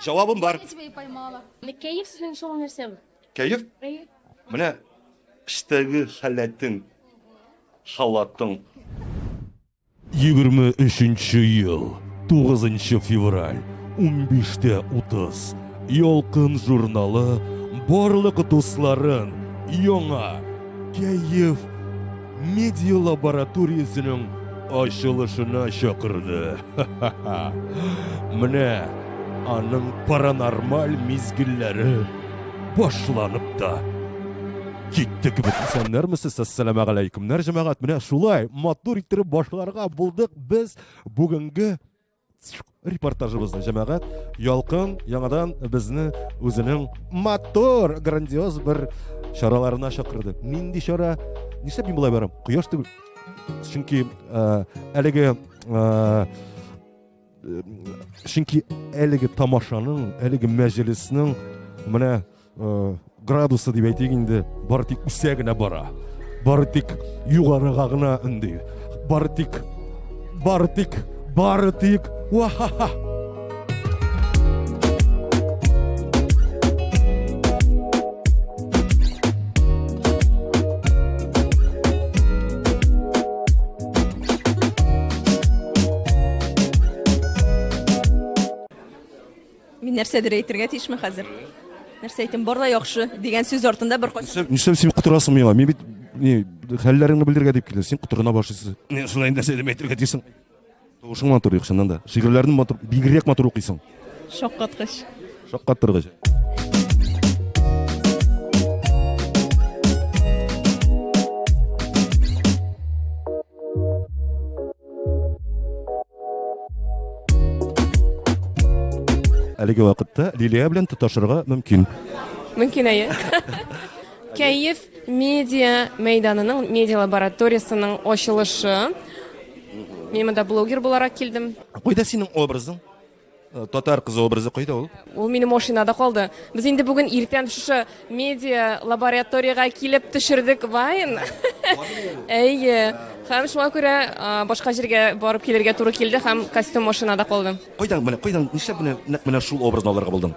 Җавабым бар. Кәеф сезнең өчен ул нәрсә? Кәеф? Менә эштәге халәтең, халатың. 23 ел, 9 февраль, 15.30. Ялкын журналы барлык дусларын яңа кәеф Медиа лабораториясенең ачылышына чакырды. Менә аның паранормаль мизгелләре башланып та китте кебек. Исәннәрмесез, әссәламә галәйкүмнәр, җәмәгать. Менә шулай матур иттереп башларга булдык без бүгенге Репортажыбызны җәмәгать ялкын яңадан безне үзенең мотор грандиоз бер чараларына чакырды. Нинди чара? Нишләп мин болай барам? Кояш түгел. Чөнки э, әлеге э, чөнки әлеге тамашаның, әлеге мәҗлеснең менә градусы дип әйтик инде бары тик үсә генә бара бары тик югарыга гына өнди бары тик бары тик бары тик уахаха Мин нәрсәдер әйтергә тиешме хәзер? Нәрсә әйтим, бар да яхшы дигән сүз артында бер кат. Нишләп син котырасың миңа? Мин бит не хәлләреңне белдергә дип килдем. Син котырына башлыйсың. Не шулай нәрсә дип әйтергә тиешсең. Тавышың матур юк чыннан да. Шигырьләрне матур, бигрәк матур укыйсың. Шаккаткыч. Шаккаттыргыч. Әлеге вакытта Лилия белән тоташырга мөмкин. Мөмкин әйе. Кәеф медиа мәйданының медиа лабораториясенең ачылышы. Мин монда блогер буларак килдем. Кайда синең образың? Э, татар кызы образы кайда ул ул минем машинада калды без инде бүген иртән шушы медиа лабораториягә килеп төшердек вайн әйе һәм шуңа күрә башка җиргә барып килергә туры килде һәм костюм машинада калды кайдан менә кайдан нишләп менә нәкъ менә шул образны алырга булдың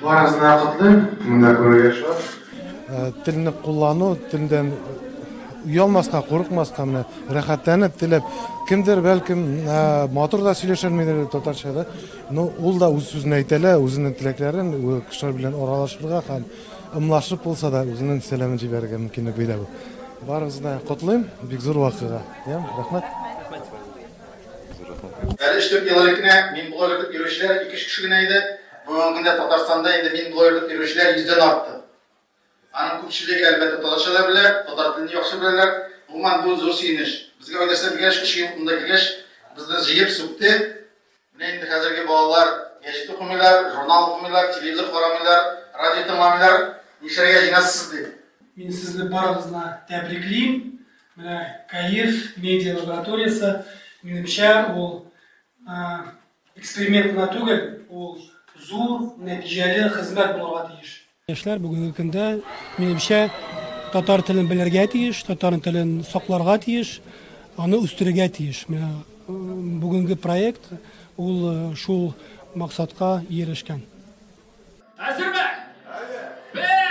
Барыгызны да котлыйм, монда күрергә шат. Э, телне куллану, телдән уялмаска, курыкмаска менә рәхәтләнеп теләп, кемдер бәлкем э, матур да сөйләшәлмидер татарча да, но ул да үз сүзен әйтә лә, үзенең теләкләрен кешеләр белән аралашырга һәм ымлашып булса да үзенең сәламен җибәрергә мөмкинлек бирә бу. Барыгызны котлыйм, бик зур вакыйга. Йә, рәхмәт. Әле эштеп елар икене, мин булар итеп йөрүчеләр ике кеше генә иде. Бүгенге көндә Татарстанда инде мин блогер дип йөрүчеләр йөздән артты. Аның күпчелеге, әлбәттә, татарча да белә, татар телен яхшы беләләр. Гомумән, бу зур сөенеч. Безгә Айдарса белгәч, өч ел монда килгәч, безне җыеп сүкте. Менә инде хәзерге балалар гәҗит укымыйлар, журнал укымыйлар, телевизор карамыйлар, радио тыңламыйлар. Нишләргә җыенасыз дип. Мин сезне барыгызны тәбриклим. Менә Каир медиа лабораториясе, минемчә, ул Эксперимент кына түгел, ул зур нәтиҗәле хезмәт булырга тиеш. Яшьләр бүгенге көндә, минемчә, татар телен белергә тиеш, татар телен сакларга тиеш, аны үстерергә тиеш. Менә бүгенге проект ул шул максатка ирешкән. Әзерме? Әзер. Бер!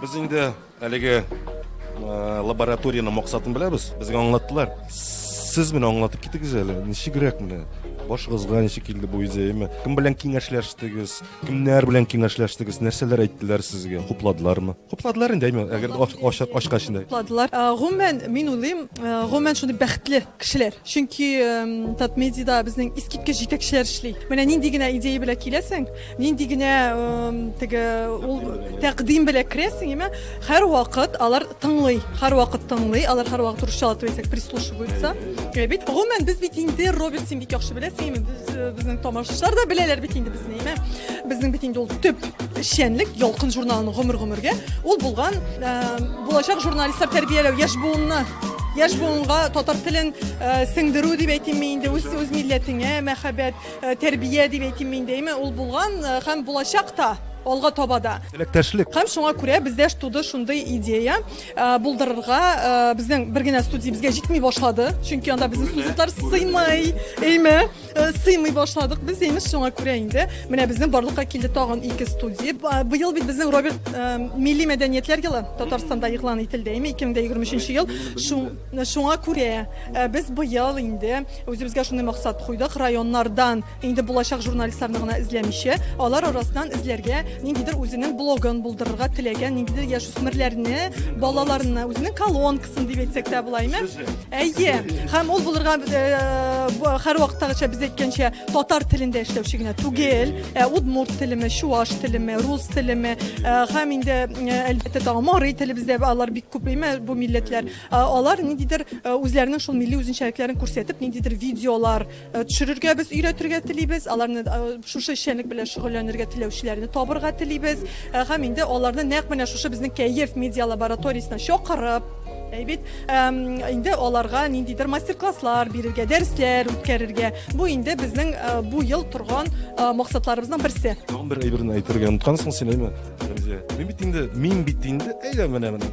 Без инде әлеге лабораторияне максатын беләбез. Безгә аңлаттылар. Сез менә аңлатып китегез әле. Ничегрәк менә? Башыгызга ничек килде бу идея? Әйме? Кем белән киңәшләштегез? Кемнәр белән киңәшләштегез? Нәрсәләр әйттеләр сезгә? Хупладылармы? Хупладылар инде, әйме? Әгәр ачкач инде. Хупладылар. Гомумән, мин уйлыйм, гомумән шундый бәхетле кешеләр. Чөнки Татмедида безнең искиткеч җитәкчеләр эшли. Менә нинди генә идея белән киләсең, Нинди генә теге ул тәкъдим белән керәсең, яме һәрвакыт алар тыңлый, һәрвакыт тыңлый, алар һәрвакыт русча әйтсәк прислушиваются. Э, бит гомумән без бит инде Роберт син бик яхшы беләсең, без э, безнең тамашачылар да беләләр бит инде безне, яме. Безнең бит инде ул төп эшчәнлек Ялкын журналының гомер-гомергә ул булган э, булачак журналистлар тәрбияләү яшь буынны яшь буынга татар телен сеңдерү дип әйтимме инде үз үз милләтеңә мәхәббәт Э, тәрбия дип әйтим мин дәйме ул булган э, һәм булачак та алга таба да теләктәшлек һәм шуңа күрә бездә туды шундый идея э, булдырырга безнең бер генә студия безгә җитми башлады чөнки анда безнең студентлар сыймый әйме сыймый башладык без имеш шуңа күрә инде менә безнең барлыкка килде тагын ике студия быел бит безнең роберт милли мәдәниятләр елы татарстанда игълан ителде әйме ике мең дә егерме өченче ел шуң Менә шуңа күрә без быел инде үзебезгә шундый максат куйдык, районнардан инде булачак журналистларны гына эзләмичә, алар арасыннан эзләргә, ниндидер үзенең блогын булдырырга теләгән ниндидер яшүсмерләрне, балаларны, үзенең колонкасын дип әйтсәк тә булаймы? Әйе. Һәм ул булырга һәрвакыттагыча без әйткәнчә татар телендә эшләүче генә түгел, ә удмурт телеме, чуаш телеме, рус телеме һәм инде әлбәттә тагын марый телебездә алар бик күп, әйме, бу милләтләр. Алар ниндидер үзләренең шул милли үзенчәлекләрен күрсәтеп, ниндидер видеолар төшерергә без өйрәтергә телибез. Аларны шушы эшчәнлек белән шөгыльләнергә теләүчеләрне табырга телибез. Һәм инде аларны нәкъ менә шушы безнең Кәеф медиа лабораториясенә чакырып, әйбит, инде аларга ниндидер мастер-класслар бирергә, дәресләр үткәрергә. Бу инде безнең бу ел торган максатларыбызның берсе. Тагын бер әйберне әйтергә оныткансың син, әйме, Рәмзия? Мин бит инде, мин бит инде, әйдә менә, менә.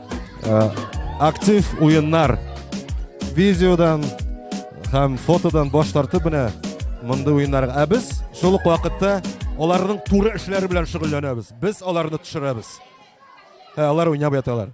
Э, актив уеннар видеодан һәм фотодан баш тартып менә мондый уеннар. Ә без шул ук вакытта аларның туры эшләре белән шөгыльләнәбез. Без аларны төшерәбез. Ә алар уйнап яталар.